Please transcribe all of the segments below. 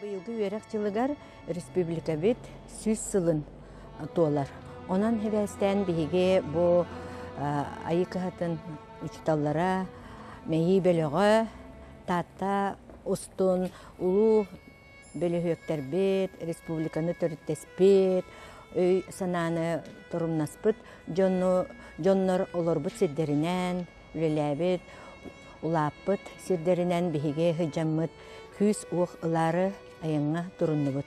Быйылгы үөрэх дьылыгар республикабыт сүүс сылын туолар. Онон хебээстээн биһиги бу айы кыһатын учуталлара мэйии бөлөҕө Таатта устун улуу бөлүһүөктэрбит, республиканы төрүттэспит, өй-санааны торумнаспыт дьону, дьоннор олорбут сирдэринэн үлэлээбит, улааппыт сирдэринэн биһиги сыдьаммыт күүс-уох ылаары айаҥҥа туруннубут.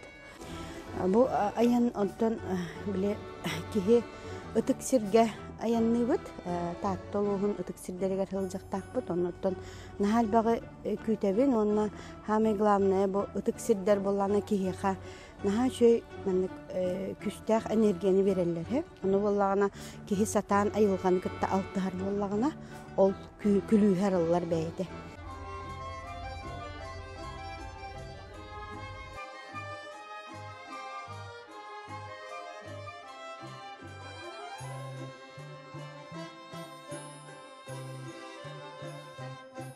Бу айан онтон били киһи ытык сиргэ айанныыбыт. Таатта улууһун ытык сирдэригэр сылдьахтаахпыт. Оннуттан наһаа элбэҕи күүтэбин уонна самое главное бу ытык сирдэр буоллаана киһиэхэ наһаа үчүгэй маннык күүстээх энергияны биэрэллэр үһү ону буоллаҕына киһи сатаан айылҕаны кытта алтыһар буоллаҕына ол күлүүһэ арыллар бэйэтэ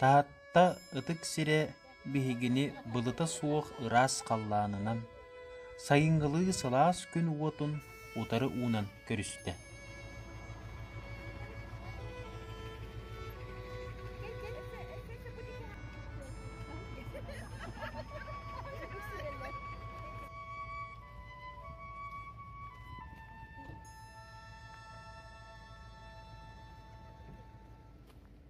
Таатта ытык сирэ биһигини былыта суох ыраас халлаанынан, сайыҥҥылыы сылаас күн уотун утары уунан көрүстэ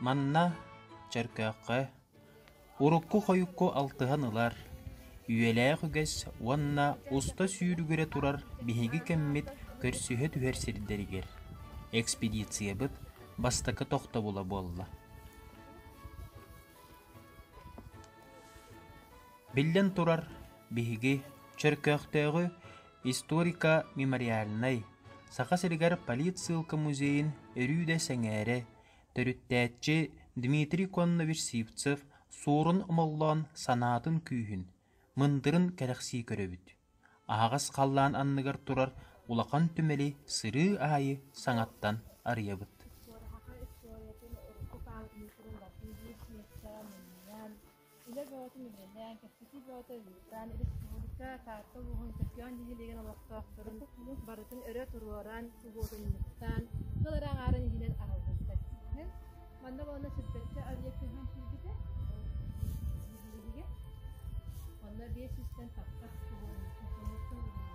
Манна, чөркөөххө, урукку-хойукку алтыһан ылар, үйэлээх үгэс уонна уста сүүрүгүрэ турар биһиги кэммит көрсүһэ түһэр сирдэригэр экспедициябыт бастакы тохтобула буолла. Биллэн турар, биһиги Чөркөөхтөөҕү Историко-мемориальнай Саха сиригэр политсыылка музейын өрүү сэҥээрэ, төрүттээччи Дмитрий Коннович Сивцев Суорун Омоллоон санаатын күүһүн, мындырын кэрэхсии көрөбүт. Аһаҕас халлаан анныгар турар улахан түмэли сырыы аайы саҥаттан арыйабыт. Үлэ бөҕөтүн үлэлээн, кэпсэтии бөҕөтө ыытан, республика, Таатта улууһун Көкөөн нэһилиэгин олохтоохторун барытын өрө туруоран, угуотунньуктаан, тыл эрэ аҥаарын иһинэн аһыллыбыттар. Манна уонна сүппэччэ объект көһөн киирбитэ. Онно биэс сүүстэн таппат угуотунньуктан угуотунньуктан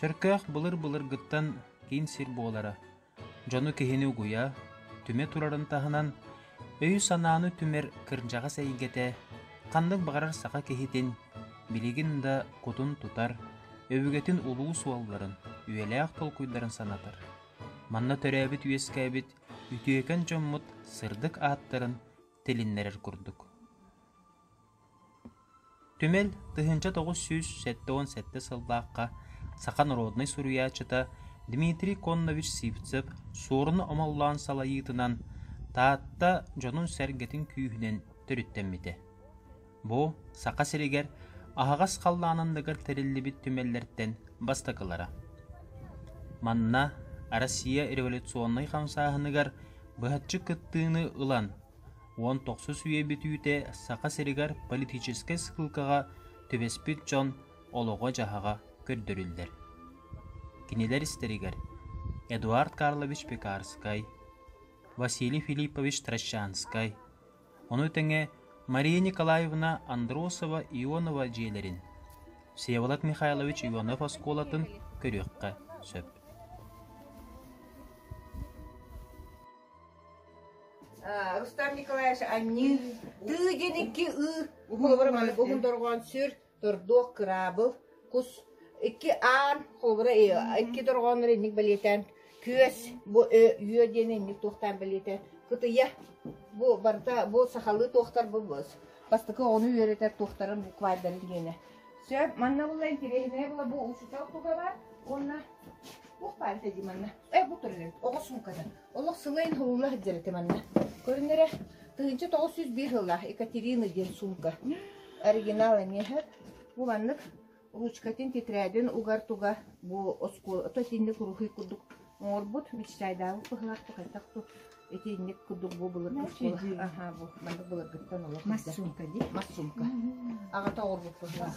Чөркөөх былыр-былыргыттан киин сир буолара, дьону киһини угуйа, түмэ турарын таһынан, өйү-санааны түмэр кырдьаҕас эйгэтэ ханнык баҕарар саха киһитин билигин да кутун тутар, өбүгэтин улуу суолларын, үйэлээх толкуйдарын санатар. Манна төрөөбүт-үөскээбит үтүөкэн дьоммут сырдык ааттарын тилиннэрэр курдук. Түмэл тыһыынча тоҕус сүүс сэттэ уон сэттэ сыллаахха саха норуодунай суруйааччыта Дмитрий Коннович Сивцев Суоруна омоллоон салайыытынан Таатта дьонун-сэргэтин күүһүнэн төрүттэммитэ. Бу Саха сиригэр аһаҕас халлаан анныгар тэриллибит түмэллэртэн бастакылара. Манна Россия революционнай хамсааһыныгар быһаччы кыттыыны ылан, уон тохсус үйэ бүтүүтэ Саха сиригэр политическай сыылкаҕа түбэспит дьон олоҕо-дьаһаҕа көрдөрүллэр. Кинилэр истэригэр Эдуард Карлович Пекарскай, Василий Филиппович Трощанскай, ону тэҥэ Мария Николаевна Андросова Ионова дьиэлэрин, Всеволод Михайлович Ионов оскуолатын көрүөххэ сөп. Рустам Николаевич анньыы тыы диэн икки ыы уһун дорҕоон сүр тордуох кыраабыл кус икки аан холбура икки дорҕооннор инник бэлиэтээн күөс бу үө диэн инник туохтаан бэлиэтэ кытыйа бу барыта бу сахалыы туохтар бу бастакы оҕону үөрэтэр туохтарын буквайдарын диэне сөп манна була интересное было бу учитель кугала онна Ух, Паарата дии манна. Э, бу турарыгыт, оҕо суумкатын. Олох сылайын һылла сылдьар этэ манна. Көрүннэрэ, тыһыынча тоҕус жүз биир һыллаах Екатерина диэн суумка. Оригинал эмиэһэ. Бу маннык ручкатын, тетрадын угар-туга бу оскуолата итинник уруһуй курдук оҥорбут мечтайдаабыт быһылахты хайтах ту итинник курдук бу былыр оскуола аха бу маннык былыргыттан олох мас сумка ди мас сумка аҕата оҥорбут быһылаах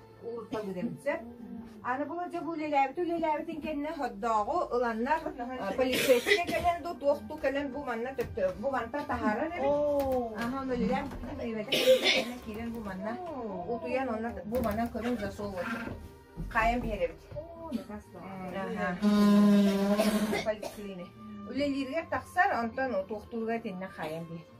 уурта гыдырыпсыт. Аны було дьэ бу үлэлээбит үлэлээбитин кэннэ соддооҕу ыланнар полицейскэ кэлэн ду туох ту кэлэн бу манна бу манта таһарар аха ону үлэлээн киирэн киирэн бу манна утуйан онно бу манна көрүн засол вот хаайан биһэрэбит поликлины үлэлииргэр тахсар онтон туохтууруга этиннэ хаайан биһэр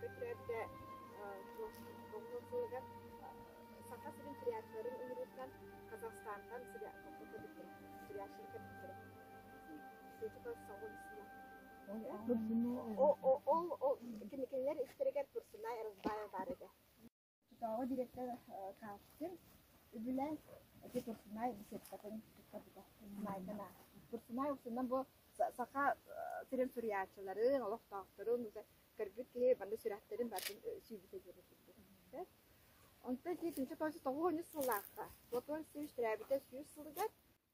көтөрдө тоҥнуу сылыгар Саха сирин триатларын ыҥырыытынан Казахстантан Турсуноо ол кинилэр истэригэр Турсунай Эрузбаев баар этэ Чотооҕу дириэктэр Каспин үбүлээн ити Курсунай беседкатын туттарбыта. Майдан ааспыт. Курсунай устунан бу саха сирин суруйааччыларын, олохтоохторун көрбүт киһи манна сүрэхтэрин бартын сүүбүтэ диэри турбут. Онтон ити түмсэ тоҕус тоҕуонньус сыллаахха Платон Сивич төрөөбүтэ сүүс сылыгар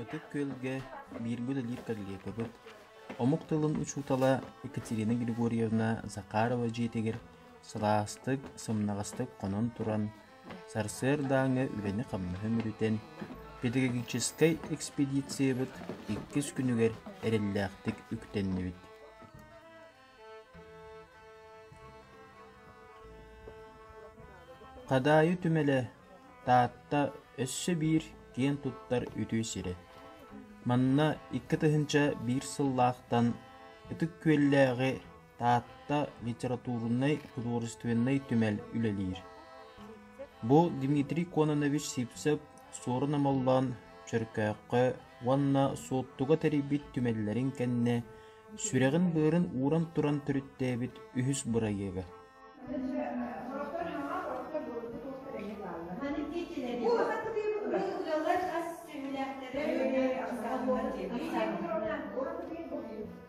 Ытык Күөлгэ бииргэ үлэлиир коллегабыт, омук тылын учуутала Екатерина Григорьевна Захарова дьиэтигэр сылаастык, сымнаҕастык хонон туран, Сарсыардааҥҥы үлэни-хамнаһы мүрүтэн, педагогическай экспедициябыт иккис күнүгэр эрэллээхтик үктэннибит. Хадаайы түмэлэ Таатта өссө биир киэн туттар үтүө сирэ. Манна икки тыһыынча биир сыллаахтан Ытык Күөллээҕи Таатта литературнай, художественнай түмэл үлэлиир. Бу Дмитрий Кононович Сивцев Суорун Амаллаан Чөркөөххө уонна Суоттуга тэрийбит түмэллэрин кэннэ сүрэҕин-быарын ууран туран төрүттээбит үһүс бырайыага.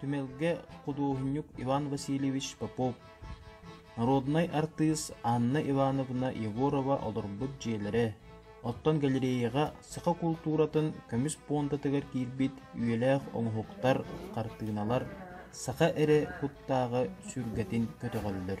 Түмэлгэ худуоһунньук Иван Васильевич Попов, народнай артыыс Анна Ивановна Егорова олорбут дьиэлэрэ, оттон галереяҕа саха култууратын көмүс пуондатыгар киирбит үйэлээх оҥоһуктар, хартыыналар саха эрэ куттааҕы сүргэтин көтөҕөллөр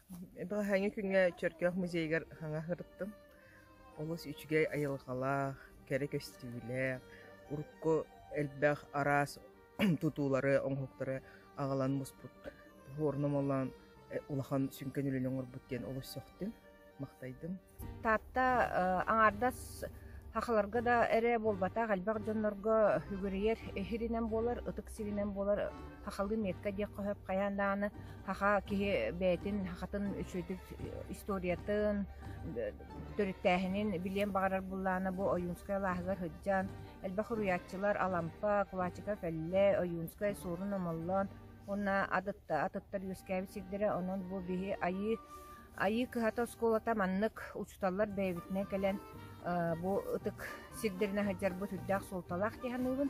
Балаһаанньа күҥҥэ Чөркөөх музейыгар саҥа сырыттым. Олус үчүгэй айылҕалаах, кэрэ көстүүлээх, урукку элбэх араас тутуулары, оҥоһуктары аҕалан муспут Хворнум Олоон улахан сүҥкэн үлэни оҥорбут диэн олус сөхтүм, махтайдым. Таатта аҥаардас сахаларга да эрэ буолбатах, элбэх дьоннорго үгүрүйэр иһиринэн буолар, ытык сиринэн буолар сахалыы метка диэххэ сөп. Хайаан даҕаны саха киһи бэйэтин сахатын үчүгэйдик историятын, төрүттээһинин билиэн баҕарар буоллаҕына бу Ойуунскай алааһыгар сылдьан элбэх уруйааччылар Алампа, Кулачика Кэллэ, Ойуунскай Суорун Омоллоон уонна атыттар үөскээбит сирдэрэ. Онон бу биһи айыы Айыы кыһата оскуолата маннык учууталлар бэйэбитинэн кэлэн бу ытык сирдэринэ сылдьарбыт үрдээх суолталаах дии саныыбын.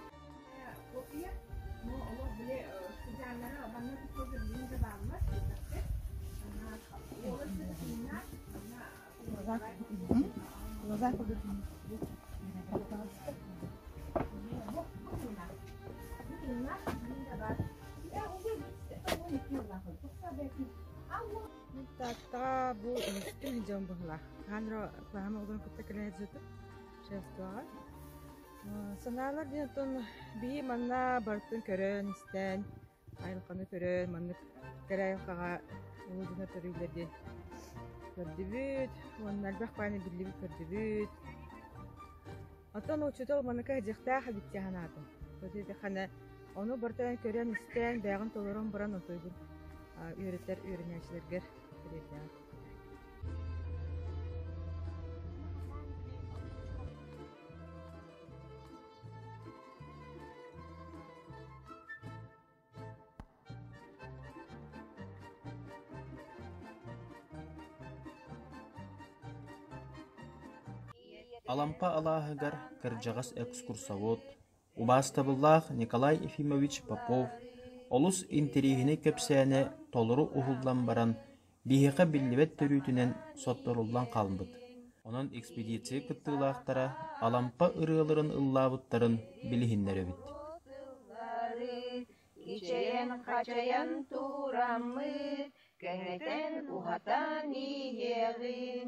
Thank you. Мин Тааттаҕа бу өһөстүм дьон быһла. Хаанро клаһама удун кытта кэлэн зөтүм. Шерстоҕа. Санаалар дин оттон бии манна барытын көрөн, истэн, айылқаны көрөн, маннык кэрайылқаға улудуна төрүүлер диэн көрдүбүт. Уонна альбах пааны биллибит көрдүбүт. Оттон учуутал маннык дьахтаах эбит дии санаатым. Итиэхэнэ ону барытын көрөн-истэн, бэйэҕин толорон баран утуйбут үөрэтэр үөрэнээччилэргэр тириэрдэҕим. Алампа алааһыгар кырдьаҕас экскурсовод, убаастабыллаах Николай Ефимович Попов олус интириэһинэй кэпсээнэ толору уһуллан баран, Биһиэхэ биллибэт төрүүтүнэн сотторуллан хаалбыт, онон экспедиция кыттыылаахтара Алампа ырыаларын ыллаабыттарын билиһиннэрэбит Ичэйэн-хачайан туураммыт, кэҥэтэн-уһатан иһиэҕиҥ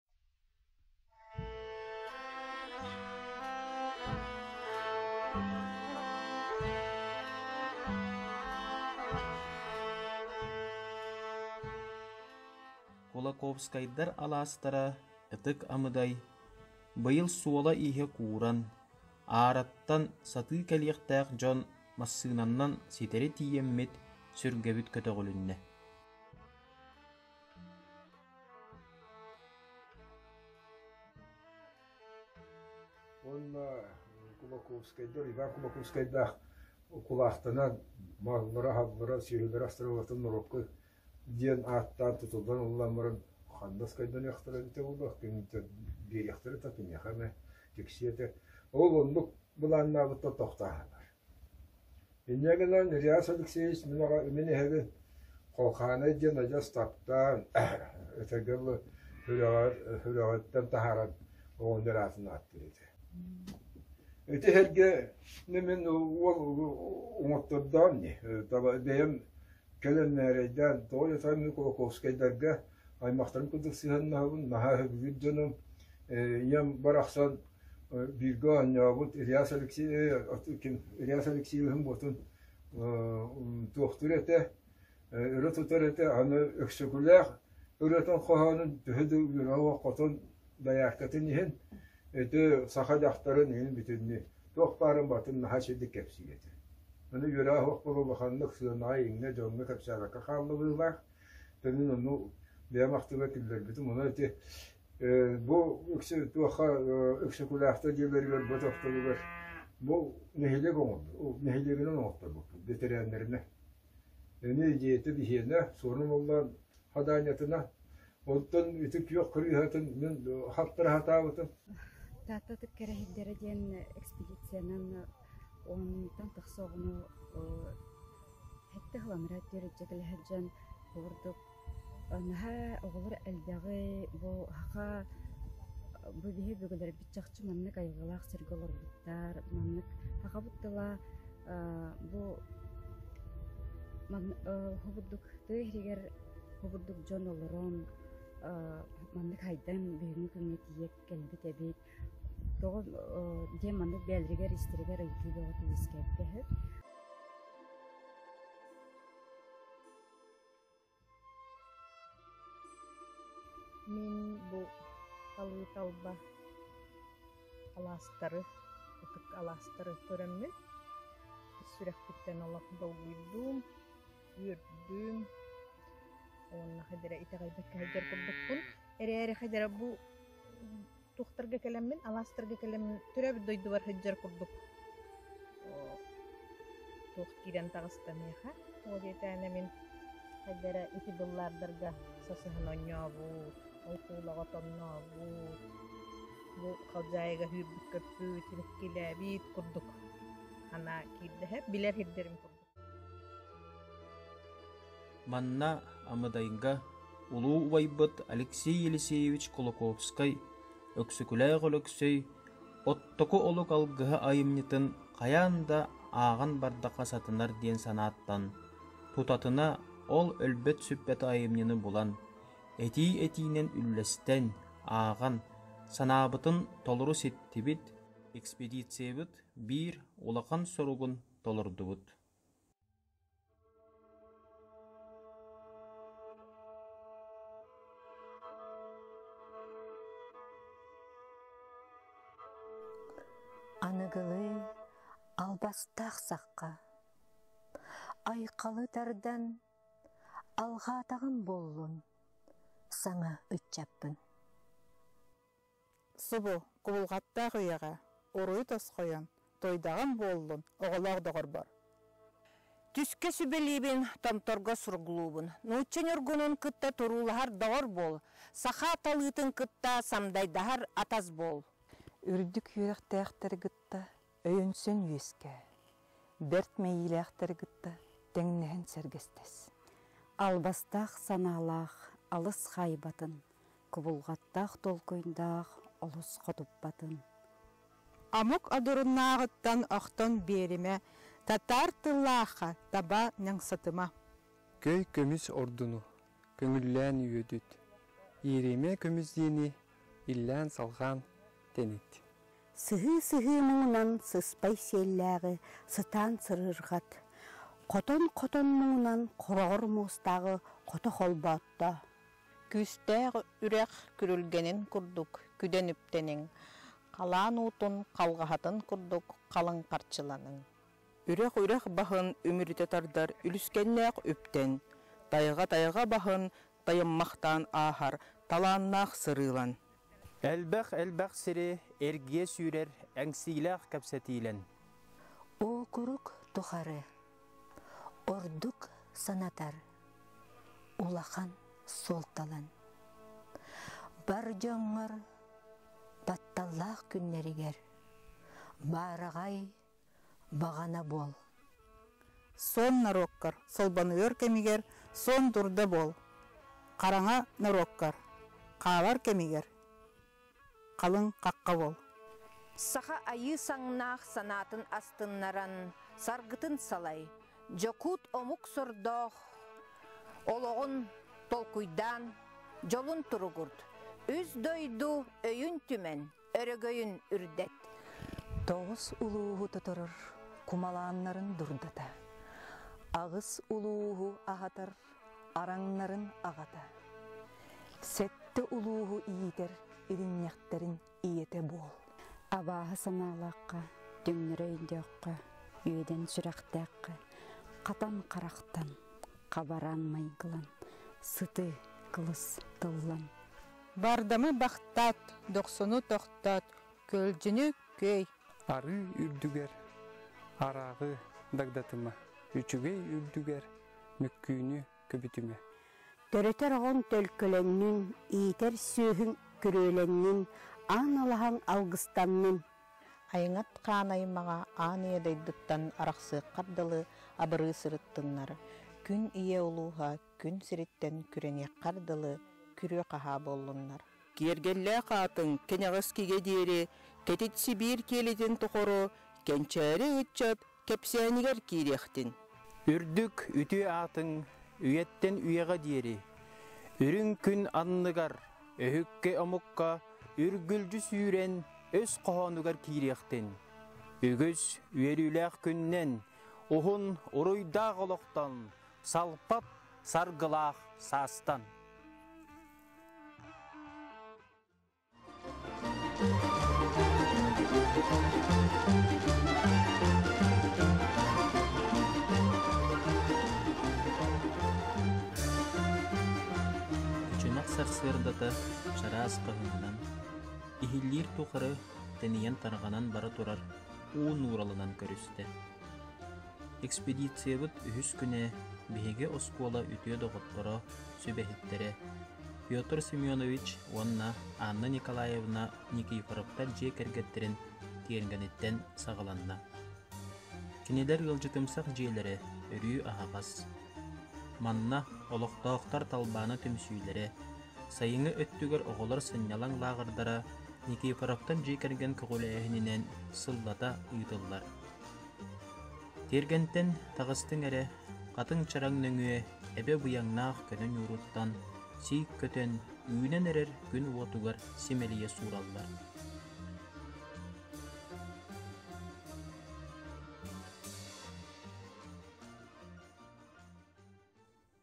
Кулаковскайдар алаастара ытык амыдай быйыл суола-ииһэ кууран, аараттан сатыы кэлиэхтээх дьон массыынаннан ситэри тиийэммит сүргэбит көтөҕүлүннэ. Уонна Кулаковскайдар, Иван Кулаковскайдаах кулаахтанан мааллара-аһаллара, сиһилэрэ астаралатын норуокка диэн ааттаан тутуллан ыллан баран ханнас кайданыахтара эбитэ буолуох киниттэн биэриэхтэрэ та киниэхэ эмэ тиксиэтэ ол оннук былааннаабыттан тохтааһынар Инньэ гынан Ильяс Алексеевич мин аҕа мин эһэбин Холхооной диэн адьас таптаан өтөргө дылы сүрэҕэр сүрэҕиттэн таһааран оҕонньор аатын ааттыыр этэ. Ити эһэргэ мин уол уҥуохтордоон ини бэйэм кэлэн мээрэйдээн тоҕо диэтэххэ мин Кулаковскайдарга аймахтарым курдук сыһыаннаһабын наһаа өһүргүүр дьонум ийэм барахсан бииргэ оонньообут Ильяс Алексеевич, ким Ильяс Алексеевиһын ботун туохтуур этэ, өрө тутар этэ, аны Өксөкүлээх ырыатын хоһоонун төһө да үөрэ хотон дояркатын иһин, ити саха дьахтарын иһин бүтүннүү туох баарын батын наһаа сирдик кэпсиир этэ. Аны үөраа оһох була улаханнык сыанаҕа иҥнэ дьоҥҥо кэпсээбэккэ хааллыбыылаах. Төнүн ону бэйэм ахтыла киллэрбитим, ону ити Бу үксэ туохха Өксөкүлээхтэр дьиэлэригэр бу тохтобугар бу нэһилиэк оҥорбут, нэһилиэгинэн оҥорторбуппут бэтэрээннэринэ. Эмиэ дьиэтэ биһиэнэ Суорун Уллаан Хадаанньатына. Оттон ити күөх кырыыһатын мин хаптара сатаабытым. Тааттатык кэрэһийдэрэ диэн экспедициянан оннуттан тахса оҕону сэттэ хыланара диэри дьэтэлэһэр дьон курдук Наһаа оҕолор элбэҕи, бу саха бу биһи бүгүлэрбит чахчы маннык айылҕалаах сиргэ олорбуттар, маннык сахабыт тыла аа бу манна уһубурдук тыа иһигэр уһубурдук дьон олорон аа маннык сайдан бүгүҥҥү күҥҥэ тиийэ кэлбит эбит. Тоҕо диэн маннык бэйэлэригэр истэригэр ыйытыы бөҕө үөскээбитэ үһү. Мин бу Талыыталба алаастары, ытык алаастары көрөммүн, сүрэхпиттэн олох долгуйдум, үөрдүм уонна ходера итэҕэйбэккэ сылдьар курдукпун. Эрээри ходера бу туохтарга кэлэммин, алаастарга кэлэммин төрөөбүт дойдубар сылдьар курдук туох киирэн таҕыстаныаха. Ол диэтээнэ мин эрдэрэ ити быллаардарга сасыһан онньообут, ол куулаҕа тоннообут, бу халдьаайыга үүрбүт көппүт, иниккилээбит курдук. Анаа киирдэһэ билэр сирдэрим курдук. Манна Амыдайга улуу убайбыт Алексей Елисеевич Кулаковскай, Өксөкүлээх Өлөксөй, Оттоку олук алгыһа айымньытын хайаан да ааҕан бардахха сатанар диэн санааттан, тутатына ол өлбөт-сүппэт айымньыны булан, этии-этиинэн үллэстэн, ааҕан, санаабытын толору ситтибит, экспедициябыт биир улахан соругун толордубут аныгылыы албастаах сахха айқалы тардан алҕаатаҕым буоллун саҥа ыччаппын Субу, кубулҕаттаах ийэҕэ, уруй тосхойон, туойдаҕым буоллун, оҕолоох доҕорбор! Түскэ сүбэлиибин, Томторго суруглуубун. Нуучча ньургунун кытта туруулаһар доҕор буол, саха талыытын кытта самдайдаһар атас буол. Үрдүк үөрэхтээхтэри кытта Өйөнсөн үөскээ. Бэрт мэйиилээхтэри кытта тэҥнэһэн сэргэстэс. Албастаах санаалаах алыс хаайбатын, кубулҕаттаах толкуйдаах олус хотуппатын. Омук одуруннааҕыттан охтон биэримэ, татаар тыллаахха таба ньаҥсатыма. Көй көмүс ордуну көҥүллээн үөдүт, ииримэ көмүс диэни иллээн-салҕаан тэнит. Сыһыы-сыһыы муҥунан сыспай сиэллээҕи сытаан сырыырҕат, хотон-хотон муҥунан хороҕор муостааҕы хото холбоотто. Күүстээх үрэх күрүлгэнин курдук күдэн үптэниҥ, халаан уутун халҕаһатын курдук халыҥ харчыланыҥ. Үрэх-үрэх баһын үмүрүтэ тардар үлүскэннээх үптэн, тайҕа-тайҕа баһын тайыммахтаан ааһар талааннаах сырыылан. Элбэх-элбэх сири эргийэ сүүрэр эҥсиилээх кэпсэтиилэн. Окурук тухары ордук санатар улахан суолталан. Бар дьоҥҥор батталлаах күннэригэр баараҕай баҕана буол. Сон норуоккар солбонуйар кэмигэр сон дурда буол. Хараҥа норуоккар хаалар кэмигэр халыҥ хахха буол. Саха айыы саҥнаах санаатын астыннаран саргытын салай, дьокуут омук сордоох олоҕун толкуйдаан, дьолун туругурт. Үс дойду өйүн түмэн, өрөгөйүн үрдэт. Тоҕус улууһу тоторор кумалааннарын дурдата. Аҕыс улууһу аһатар араҥнарын аҕата. Сэттэ улууһу иитэр иринньэхтэрин ийэтэ буол. Абааһы санаалаахха, түҥнэрэ өйдөөххө, үөдэн сүрэхтээххэ, хатан харахтан, хабараан майгылан, сыты, кылыс тыллан, Бардамы бахтат, дохсуну тохтот, көлдьүнү көй. Арыы үрдүгэр арааҕы дагдатыма, үчүгэй үрдүгэр мөккүүнү көбүтүмэ. Төрөтөр оҕоҥ төлкөлөннүн, иитэр сүөһүҥ күрүөлэннин, аан алаһаҥ алгыстаннын. Айыҥат хаан аймаҕа аан ийэ дойдуттан арахсыаххар дылы абырыы сырыттыннар, күн ийэ улууһа күн сириттэн күрэниэххэр дылы күрүө-хаһаа буоллуннар. Киэргэллээх аатын кэнэҕэс кигэ диэри Кэтит Сибиир киэлитин тухары кэнчээри ыччат кэпсээнигэр киириэхтин. Үрдүк үтүө аатыҥ үйэттэн үйэҕэ диэри, үрүҥ күн анныгар, өһүккэ-омукка үргүлдьү сүүрэн өс хоһоонугар киириэхтин. Үгүс үөрүүлээх күннэн уһун уруйдаах олохтон Салпап саргылаах саастан. сарсыардата чараас хаһыынан, иһиллиир тухары тэнийэн тарҕанан бара турар уу нууралынан көрүстэ. Экспедициябыт үһүс күнэ биһиги оскуола үтүө доҕотторо, сүбэһиттэрэ Петр Семенович уонна Анна Николаевна Никифоровтар дьиэ кэргэттэрин тиэргэниттэн саҕаланна. Кинилэр ыалдьытымсах дьиэлэрэ өрүү аһаҕас. Манна олохтоохтор талбаана түмсүүлэрэ, сайыҥҥы өттүгэр оҕолор сынньалаҥ лааҕырдара Никифоровтар дьиэ кэргэн көҕүлээһининэн сыллата ыытыллар. Тиэргэнтэн таҕыстыҥ эрэ, хатыҥ чараҥ нөҥүө эбэ быйаҥнаах көнө ньууруттан сиик көтөн үүнэн эрэр күн уотугар симэлийэ суураллар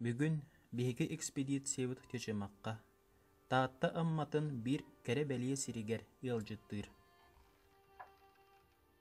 Бүгүн биһиги экспедициябыт Чычымахха Таатта Амматын биир кэрэ бэлиэ сиригэр ыалдьыттыыр.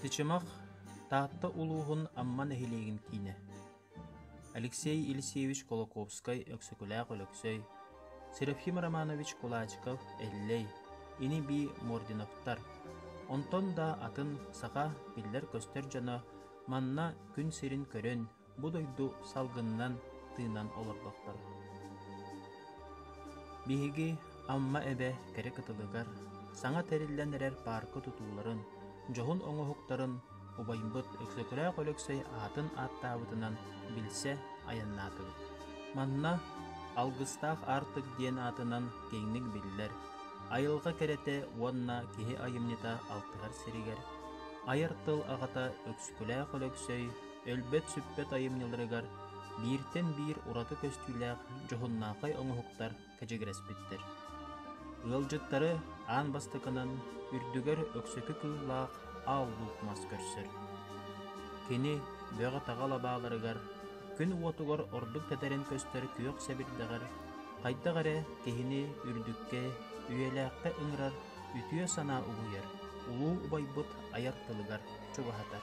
Тычымах Таатта улууһун Амма нэһилиэгин киинэ Алексей Елисеевич Кулаковскай Өксөкүлээх Өлөксөй Серафим Романович Кулачков Эллэй ини-бии Мординовтар онтон да атын саха биллэр-көстөр дьоно манна күн сирин көрөн бу дойду салгынынан тыынан олорботтор. Биһиги Амма эбэ кэрэ кытылыгар саҥа тэриллэн эрэр паарка тутууларын, дьоһун оҥоһуктарын убайбыт Өксөкүлээх Өлөксөй аатын ааттаабытынан билсэ айаннаатыбыт. Манна Алгыстаах Аартык диэн аатынан киэҥник биллэр айылҕа кэрэтэ уонна киһи айымньыта алтыһар сиригэр айар тыл аҕата Өксөкүлээх Өлөксөй өлбөт-сүппэт айымньыларыгар бииртэн биир ураты көстүүлээх дьоһуннаахай оҥоһуктар кэчигирэспиттэр. Ыалдьыттары аан бастакынан үрдүгэр өксөкү кыыллаах аал луук мас көрсөр. Кини бөҕө-таҕа лабааларыгар, күн уотугар ордук тэтэрэн көстөр күөх сэбирдэҕэр хайдах эрэ киһини үрдүккэ, үйэлээххэ ыҥырар үтүө санаа угуйар, улуу убайбыт айар тылыгар чугаһатар.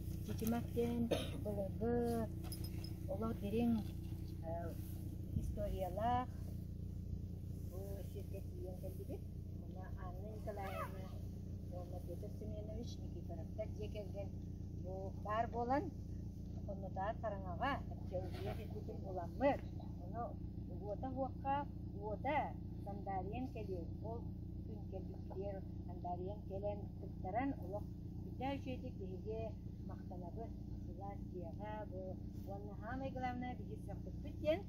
Дьитимэх диэн былыргы олор дириҥ историялаах бу сиргэ тиийэн кэллибит. Мана Анна Николаевна уонна Петр Семенович Никифоровтар дьиэ кэргэн бу баар буолан хоннутаҕар хараҥаҕа археология сирбитин уламмыт. Ону уота уокка уота Сандарien кэлиэ ол күн кэлбиппитигэр Сандарien кэлэн кыттаран олох Дьэ, үчүгэйдик биһиги махтанабыт сыла тема бу уонна самое главное биһи сөхпүппүт диэн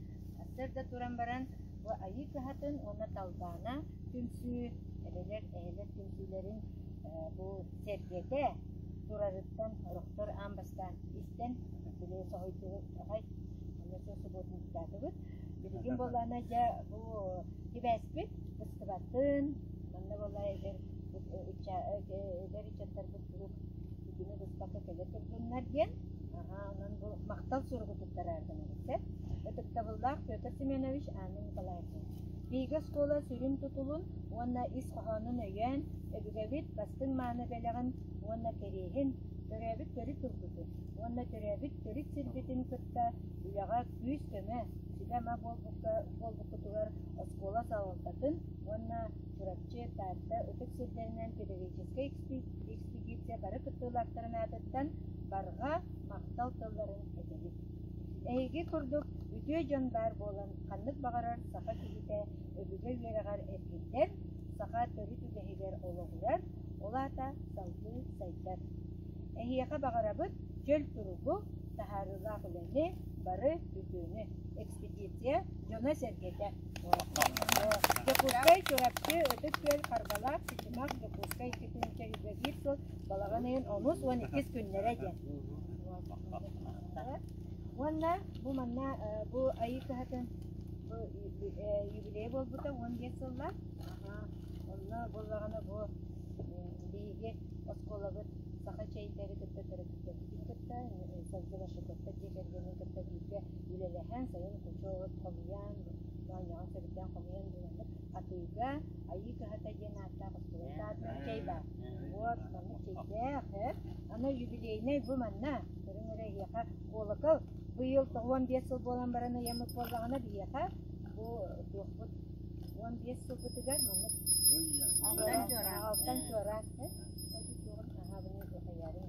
сырда туран баран бу айыы кыһатын уонна талбаана түмсүү эбэлэр эһэлэр түмсүүлэрин бу сэргэтэ турарыттан орохтор аан бастаан истэн били соһуйдуҕай онно сыл субуотунньуктаатыбыт билигин буоллаана дьэ бу сибээспит быстыбатын манна буолла эдэр ыччаттарбыт куруук итини быспакка кэлэ турдуннар диэн онон бу махтал суругу туттарааргынабыт ытыктабыллаах Петр Семенович Анна Николаевна Биһиги оскуола сүрүн тутулун уонна ис хоһоонун өйөөн, өбүгэбит бастыҥ мааны бэлэҕин уонна кэриэһин, төрөөбүт төрүт тылбытын уонна төрөөбүт төрүт сирбитин кытта үлэҕэ күүс-көмө, сүбэ-ама буолбуккутугар оскуола салалтатын уонна Чурапчы, Таатта ытык сирдэринэн педагогическай экспедиция бары кыттыылаахтарын аатыттан барҕа махтал тылларын этэбит. Эһиги курдук үтүө дьон баар буолан, ханнык баҕарар саха киһитэ өбүгэ үөрэҕэр эргиллэр, саха төрүт үгэһигэр олоҕурар, ол аата салгыы сайдар. Эһиэхэ баҕарабыт дьөл туругу, таһаарыылаах үлэни, бары үтүөнү. Экспедиция дьоно-сэргэтэ Дьокуускай Чурапчы Ытык Күөл харбалаах ситимэх Дьокуускай ситимчэ үлэлиир сыл балаҕаныын онус уон иккис күннэрэ диэн. Уонна бу манна бу айыы кыһатын бу юбилей буолбута уон биэс сыллаах. Онно буоллаҕына бу биһиги оскуолабыт саха чэйдэрин кытта төрөппүтэрбитин кытта Савгила Шикотта дьиэ кэргэнин кытта бииргэ Үлэлэһэн сайын хочот хомуйан, моонньоҕон сөрүктээн хомуйан буланнык атыыга Айыы кыһата диэн ааттаах оскуола саатар чэй баар. Вот маннык чэйдээх, э? Ама юбилейнай бу манна. Көрүҥ эрэ эһиэхэ куолакал быйыл он биэс сыл буолан баран ыйаммыт буоллаҕына биһиэхэ бу туохпут он биэс сылбытыгар маннык алтан чуораан алтан чуораан аһаабын хаяарын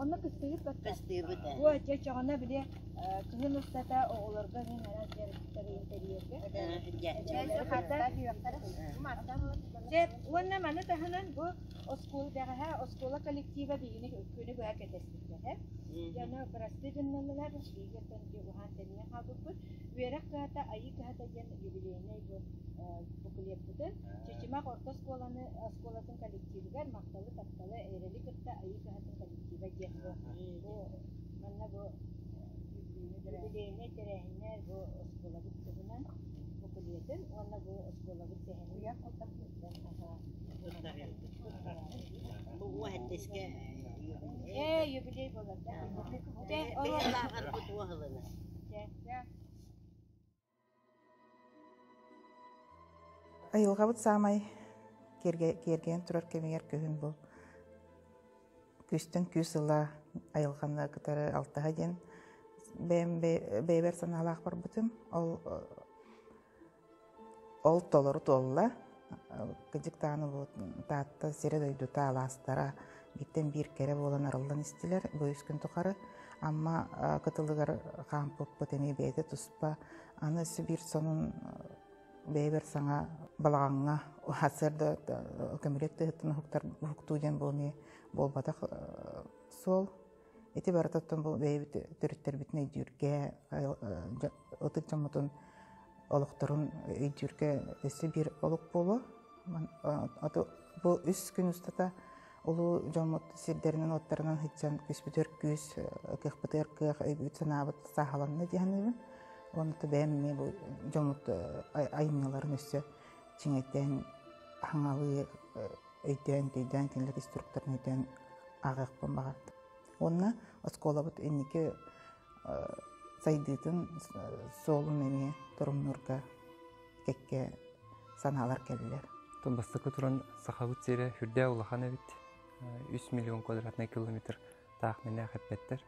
Онно кыстыыбыт батта. Кыстыыбыт ээ. Бу дьэ чоҕуна били э, кыһын устата оҕолорго иһин араас дьарыктары интэриергэ. Дьэ хата Дьэ уонна маны таһынан бу оскуола бэҕэһэ оскуола коллектива биһигини күнү быһа кэтэспиттэрэ. Дьоно бырастыы гыннылар, биһигиттэн дьулуһаан тэннэ хаалбыппыт. Үөрэх кыһата, айыы кыһата диэн юбилейнай бу э, букулеппытын Чычымах орто оскуоланы оскуолатын коллективыгар махталы-тапталы, эрэли кытта Айыы кыһатын коллектива диэн бу, бу манна бу юбилейнай тэрээһиннэр бу оскуолабыт туһунан букулетын уонна бу оскуолабыт сэһэнин бу уоһаттыска э юбилей болар да бу туоһылана Айылҕабыт саамай киэргэнэн турар кэмигэр күһүн бу күүстэн күүс ыла айылҕаны кытары алтыһа диэн бэйэм бэйэбэр санаалаах барбытым ол ол толору туолла кыдьыктаан улуут Таатта сирэ-дойдута алаастара бииртэн биир кэрэ буолан арыллан истилэр бу үс күн тухары Амма кытылыгар хаампыппыт эмиэ бэйэтэ туспа аны өссө биир сонун бэйэбэр саҥа балаҕаҥҥа сарда көмүлүөт тыһыттан уһуктуу диэн буолуо буолбатах суол Ити барытыттан бұл бэйэбит төрүттэрбитин өйдүүргэ, ытык дьоммутун олохторун өйдүүргэ өссө биир олук буолуо. Бу үс күн устата улуу дьоммут сирдэринэн-уоттарынан һыччан күспүтөр күүс, кыахпытыгар кыах, өйбүт-санаабыт сааһаланна дии саныыбын. Онута бэйэм эмиэ бу дьоммут айымньыларын өссө чиҥэйтэн, хаҥалыы өйдөөн-төйдөөн кинилэр инструкторын өйдөөн ааҕыахпын баҕардым. Уонна оскуолабыт инники сайдыытын суолун эмиэ торумнуурга кэккэ санаалар кэллилэр. Оттон бастакы туран Сахабыт сирэ үрдээх улахан эбит. Үс миллион квадратный километр таах мэнээх эппэттэр.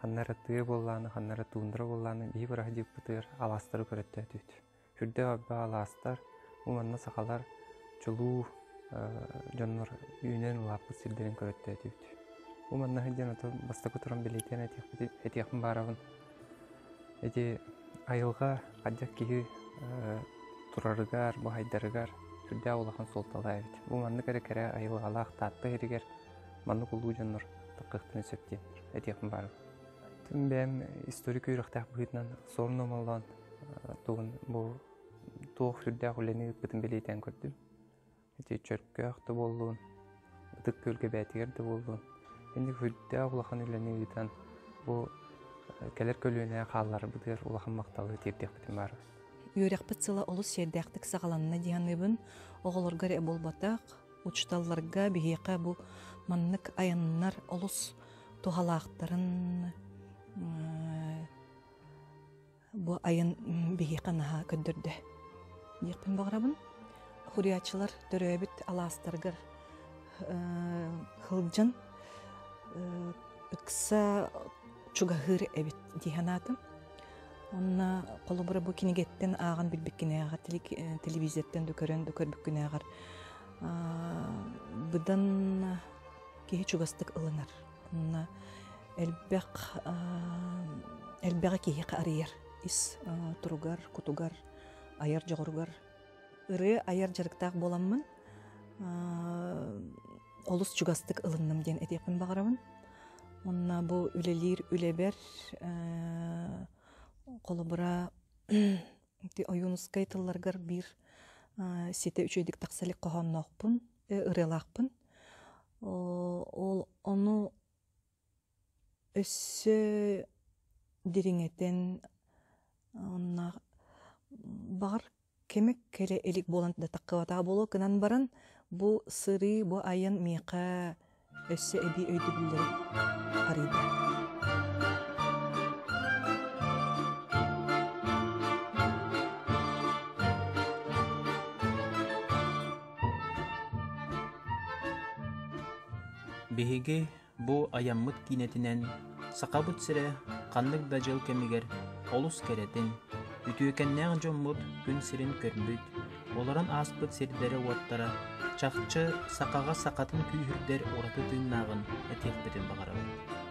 Ханна эрэ тыа буоллааны, ханна эрэ туундара буоллааны, биһи быраһа диэкпитигэр алаастары көрөттөөтүт. үрдэх арба алаастар уонна сахалар чулуу дьоннор үүнэн улааппыт сирдэрин көрөттөөтүбүт. Бу маннаһы диэн ото бастакы туран билийтен этиэхпин баарабын. Эти айылга хаддьак киһи турарыгар, бу хайдарыгар сүрдээх улахан суолталаа эбит. Бу маннык эрэ кэрэ айылгалаах Таатта иһиригэр маннык улуу дьоннор таккыктын сөптиэн этиэхпин баарабын. Бэм историк үйрөхтэх быһыытынан сорун омоллоон тугун бу туох сүрдээх үлэни ыыппытын билиитэн көрдүм. Ити чөркөөх да буоллун, ытык күөлгэбээтигэр да буоллун, инник үрдээх улахан үлэни ыытан бу кэлэр көлүөнэ хаалларбытыгар улахан махталы тиэрдиэхпитин баарбын. Үөрэхпит сыла олус сиэрдээхтик саҕаланна дии саныыбын. Оҕолорго эрэ буолбатах, учууталларга биһиэхэ бу маннык айаннар олус туһалаахтарын бу айан биһиэхэ наһаа көрдөрдө диэхпин баҕарабын хуриаччылар төрөөбүт алаастарыгар хылдьан ыкса чугаһыыр эбит дии санаатым онно холобура бу кинигэттэн ааҕан билбиккинээҕэр телевизортан да көрөн да көрбүккүнээҕэр быдан киһи чугастык ылынар элбэх элбэҕи киһи арыйар ис туругар кутугар айар дьоҕуругар ырыа айар дьарыктаах буоламмын олус чугастык ылынным диэн этиэхпин баҕарабын онно бу үлэлиир үлэбэр холобура ойуунускай тылларгар биир ситэ үчүгэйдик тахса илик хоһоонноохпун ырыалаахпын Ол ону өссө дириҥэтэн онно баҕар кэмик кэрэ илик буолан да таххыбатаҕа буолуо гынан баран бу сырыы бу айан миэхэ өссө эбии өйдөбүллэри арыйда Биһиги бу айаммыт киинэтинэн Сахабыт сирэ ханнык да дьыл кэмигэр олус кэрэтин, үтүөкэннээх дьоммут күн сирин көрбүт, олорон ааспыт сирдэрэ-уоттара чахчы сахаҕа сахатын күүһүрдэр ураты тыыннааҕын этиэхпитин баҕарабыт.